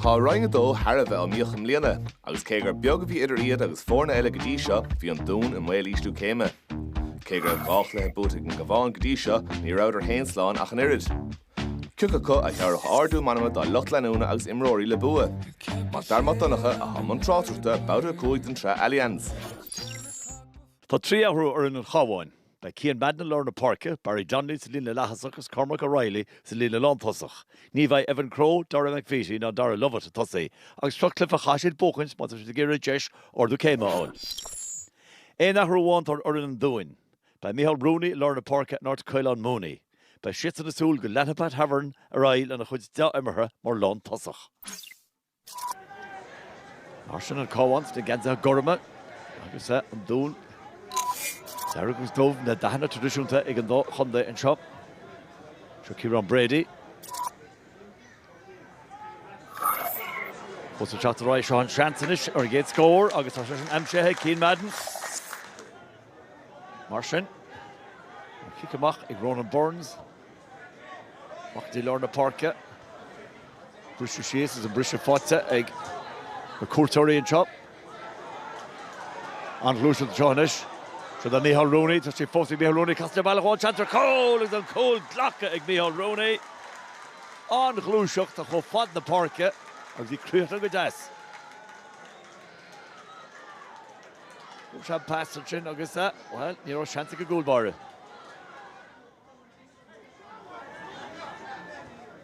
Tá Roinn a Dó thar a bheith iomaíoch i mbliana agus cé gur beag a bhí idir iad agus foirne eile go dtí seo, bhí an Dún i mbaol ísliú céime. Cé go raibh dhá chluiche buaite ag an gCabhán go dtí seo, ní rabhadar féin slán ach an oiread. Cioca acu a thabharfadh ardú meanma dá lucht leanúna agus imreoirí le bua? Mac Dara Mac Donncha atá i mbun tráchtaireachta Babhta 5 den tsraith Allianz. Tá trí athrú ar fhoireann an Chabháin. Beidh Cian Madden i lár na páirce, Barry Donnelly sa líne leaththosach agus Cormac O'Reilly sa líne lántosach. Ní bheidh Evan Crowe, Dara McVeety ná Darragh Lovett ag tosaí agus seo cluiche a chaithfidh siad buachaint má tá siad ag iarraidh deis ardú céime a fháil. Aon athrú amháin atá ar fhoireann an Dúin. Beidh Micheál Rooney i lár na páirce in áit Caolán Mooney. Beidh siadsan ag súil go leanfaidh Pat Havern ar aghaidh lena chuid deá-imeartha mar lántosach. Mar sin an Cabhán sna geansaithe gorma agus an Dún dearg agus dubh, na dathanna traidisiúnta ag an dá chontae anseo. Seo Ciarán Brady. Eisean ag teacht ar aghaidh seo an seans anois ar an gcéad scór agus tá sé sin aimsithe ag Cian Madden. Mar sin, an cic amach ag Ronan Burns. Amach go dtí lár na páirce. Briseadh síos is an briseadh faighte ag na cuairteoirí anseo. An-ghluaiseacht anseo anois. Seo do Micheál Rooney, tá sé fós ag Micheál Rooney, casann sé abhaile dhó, seans ar chúl agus an cúl glactha ag Micheál Rooney. An-ghluaiseacht, tá chomh fad na páirce agus í críochnaithe go deas. Thug sé an pas ansin agus, bhuel, ní raibh seans ag an gcúl báire.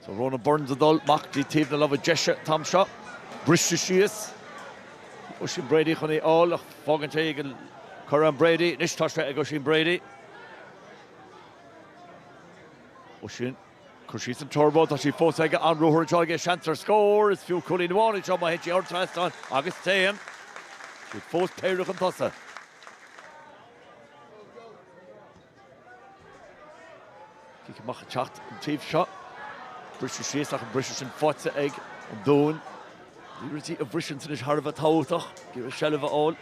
Tá Ronan Burns ag dul amach go dtí taobh na láimhe deise an t-am seo. Briste síos. Oisín Brady chun é a fháil ach fágann sé é ag Ciarán Brady. Anois tá sé ag Oisín Brady. Oisín, ag cur síos an turbo, tá sí fós aige, an ruathar anseo aige, seans ar scór, is fiú cúilín amháin é seo má théann sé thar trasnán agus téann. Siad fós péire chun tosaigh. Cic amach ag teacht an taobh seo. Briseadh síos ach an briseadh sin faighte ag an Dún. Bhí rudaí a bhriseadh anois thar a bheith tábhachtach. Bhí an seilbh a fháil.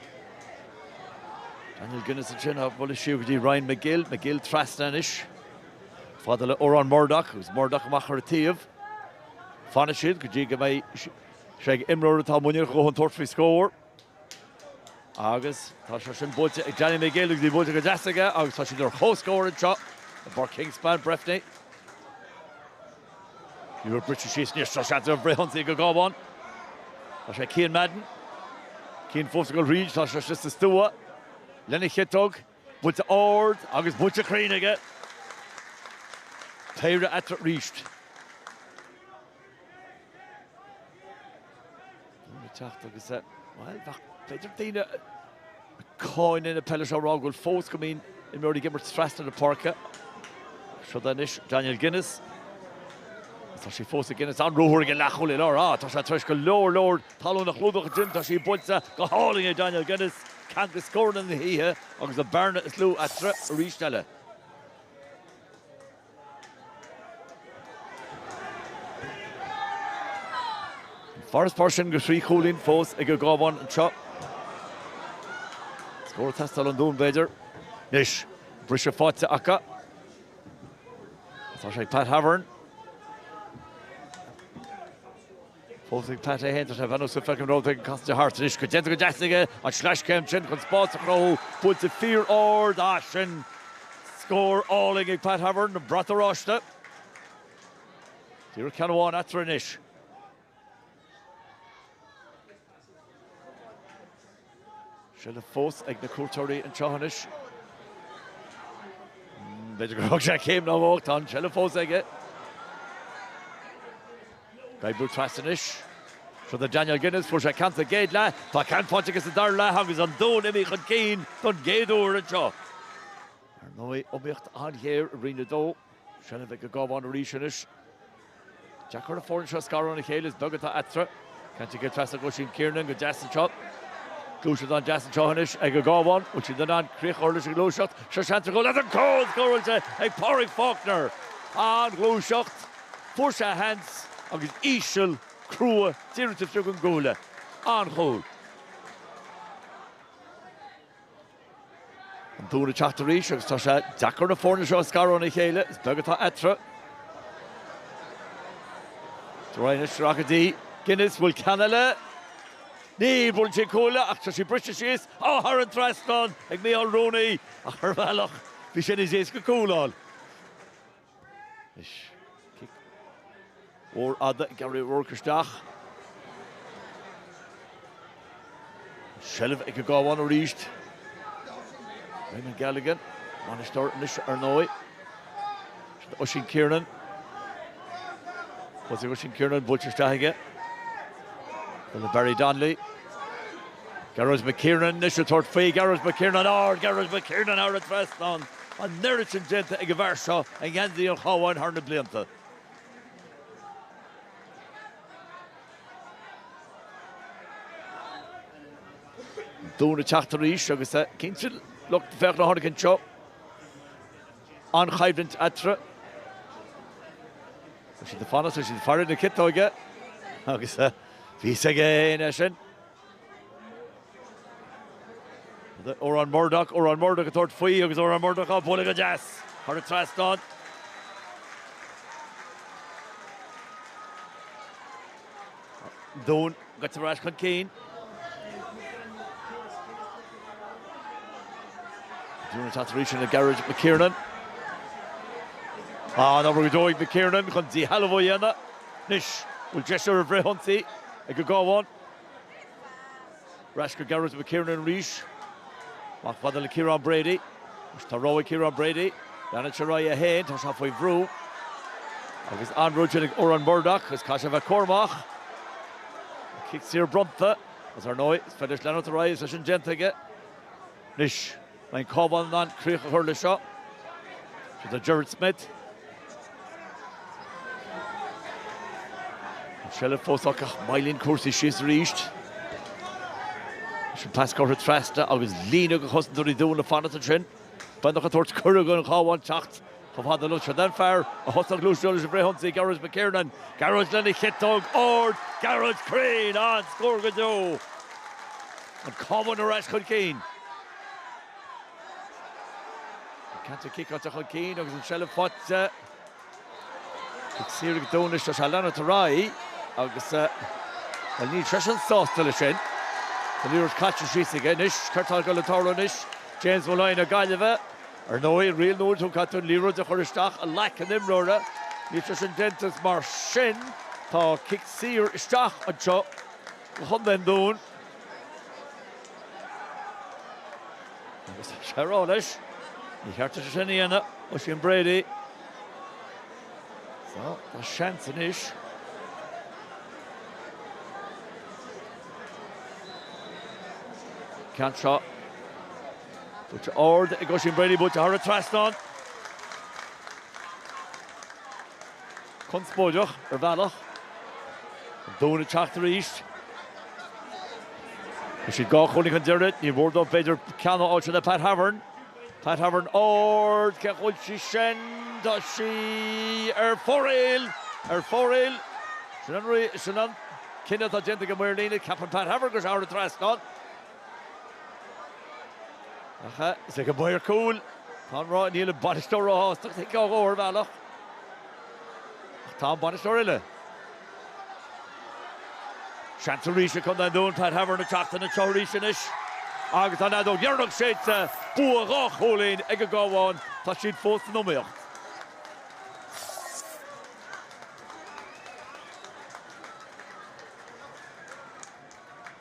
Daniel Guinness ansin á bualadh siar go dtí Ryan Magill. Magill trasna anois. Chomh fada le Odhrán Murdock agus Murdock amach thar a taobh. Fanann siad go dtí go mbeidh sé ag imreoir atá in ann tabhairt faoi scór. Agus tá sé sin buailte ag Danny Magill agus í buailte go deas aige agus tá siad ar comhscór anseo i bPáirc Kingspan, Breffni. Ní raibh briseadh síos anois seo seans ar fhrithionsaí ag an gCabhán. Tá sé ag Cian Madden. Cian fós ag dul thríd, tá sé sa stua lena chiotóg. Buailte ard agus buailte cruinn aige. Péire eatarthu arís. Dúirt an Teachta agus, bhuel, bheadh, b'fhéidir daoine a cháineann an pheil seo a rá go bhfuil fós go mbíonn imreoirí ag imirt trasna na páirce. Seo é anois Daniel Guinness. Tá sé fós ag Guinness an reathaí óg an leathchúlaí láir. Ah, tá sé tar éis go leor, leor talún a chlúdach ansin. Tá sí buailte go hálainn ag Daniel Guinness. Ceann de scóranna na hoíche agus an bhearna is lú eatarthu arís eile. Farasbarr sin de thrí chúilín fós ag an gCábhán anseo. Scór ag teastáil ón Dún b'fhéidir. Anois briseadh faighte acu. Tá sé ag Pat Havern. Thosaigh Pat é fhéin ar a bheannú sula bhfeicim an rud éigin casann sé thart. Anois, go deimhin, go deas aige an sleaschéim sin chun spás a chruthú. Buailte fíor-ard. Ah, sin scór álainn ag Pat Havern, an brat oráiste. Díreach ceann amháin eatarthu anois. Seilbh fós ag na cuairteoirí anseo anois. B'fhéidir gur thug sé céim nó dhó, tá an tseilbh fós aige. Ag brú trasna anois. Seo é Daniel Guinness, fuair sé ceann sa gcéad leath, tá ceann faighte aige sa dara leath agus an Dún imithe chun cinn don gcéad uair anseo. Ar ndóigh, iomaíocht an-ghéar i Roinn 2. Seilbh ag an gCábhán arís anois. Deacair an fhoireann seo a scaradh óna chéile, is beag atá eatarthu. Tugtha aige trasna ag Oisín Kiernan, go deas anseo. Gluaiseacht an-deas anseo anois ag an gCábhán. Bhfuil siad in ann críoch a chur leis an ngluaiseacht? Seo seans ar chúl Ó tá an cúl! Scóráilte ag Pádraig Faulkner. An-ghluaiseacht. Fuair sé a sheans agus íseal, crua, díreach taobh istigh den gcuaille. An-chúl. An Dún ag teacht arís agus tá sé deacair na foirne seo a scaradh óna chéile. Is beag atá eatarthu. Ryan ag sracadh dí. Guinness, an bhfuil ceann eile. Ní bhuaileann sí an cúl eile ach tá sí briste síos. Á, thar an trasnán ag Micheál Rooney ach ar bhealach bhí sé níos éasca cúl a fháil. Anois cic mór fada ag Gary O'Rourke isteach. An tseilbh ag an gCábhán arís. Raymond Galligan, bainisteoir anois ar ndóigh. Sin Oisín Kiernan. Thosaigh Oisín Kiernan buailte isteach aige. Buille Barry Donnelly. Gearóid McKiernan anois ag tabhairt faoi. Gearóid McKiernan ard. Gearóid McKiernan thar an trasnán. An n-oiread sin déanta ag an bhfear seo i ngeansaí an Chabháin thar na blianta. Dún ag teacht arís agus cinnte lucht féachana a tháinig anseo. An-choimhlint eatarthu. Tá sé ag fanacht, tá sé ag faire na ciotóige agus bhí a fhios againn é sin. Odhrán Murdoch, Odhrán Murdoch ag tabhairt faoi agus Odhrán Murdoch á bualadh go deas thar an trasnán. Dún curtha ar ais chun cinn. Dún ag teacht arís le Gearóid McKiernan. An-obair go deo ag McKiernan chun díshealbhú a dhéanamh. Anois bhfuil deis ar an bhfrithionsaí ag an gCabhán. Ar ais go Gearóid McKiernan arís. Amach chomh fada le Kieran Brady. Is tá rogha ag Kieran Brady. Leanann sé ar aghaidh é féin. Tá sé faoi bhrú. Agus an brú sin ag Odhrán Murdoch. Is caithfidh sé a bheith cúramach. Cic saor bronnta. Agus ar ndóigh, is féidir leis leanúint ar aghaidh is tá sé sin déanta aige. Anois. An mbeidh an Cabhán in ann críoch a chur leis seo. Seo do Gerard Smith. An tseilbh fós acu ach moillíonn cúrsaí síos arís. 'S an pas curtha trasna agus líne de chosantóirí Dhún ag fanacht ansin. Beagnach ag tabhairt cuireadh don Chabhán teacht Chomh fada leis an líne sin, an fear a thosaigh an ghluaiseacht leis an bhfrith-ionsaí, Gearóid McKiernan, Gearóid lena chiotóg ard, Gearóid cruinn, an-scór go deo. An Cabhán ar ais chun cinn. An ceann seo ciceáilte chun cinn agus an tseilbh faighte ag Ciarán go deo anois. Tá sé ag leanúint ar aghaidh agus, bhuel, níl seisean sásta leis sin. An liathróid caite síos aige anois. Céard tá ag dul ag tarlú anois? James Molloy na Gaillimhe. Ar ndóigh, riail nua ann go gcaithfidh tú an liathróid a chur isteach i nglac an imreora, níl sé sin déanta is mar sin tá cic saor isteach anseo do Chontae an Dúin. Agus tá sé ag rá leis, níor cheart duit é sin a dhéanamh, Oisín Brady. Tá seans anois. Ceann seo. Buaite ard ag Oisín Brady, buaite thar an trasnán. Conspóideach ar bhealach. An Dún ag teacht arís. Tá siad dhá chúilín chun deiridh, ní mór dóibh b'fhéidir ceann a fháilt le Pat Havern. Pat Havern ard, cé a bhuail sí sin? Tá sí ar fóraoil! Ar fóraoil! Sin an cinneadh atá déanta ag an maor líne, ceapann Pat Havern gur thar an trasnán. Ach is ag an bhfear cúil atá an rath. Níl an bainisteoir róshásta agus thit Keogh ar bhealach. Ach tá an bainisteoir eile. Seans arís ag Contae an Dúin Pat Havern ag teacht ina treo arís anois. Agus tá an fheadóg dheireanach séidte. Bua dhá chúilín ag an gCabhán. Tá siad fós san iomaíocht.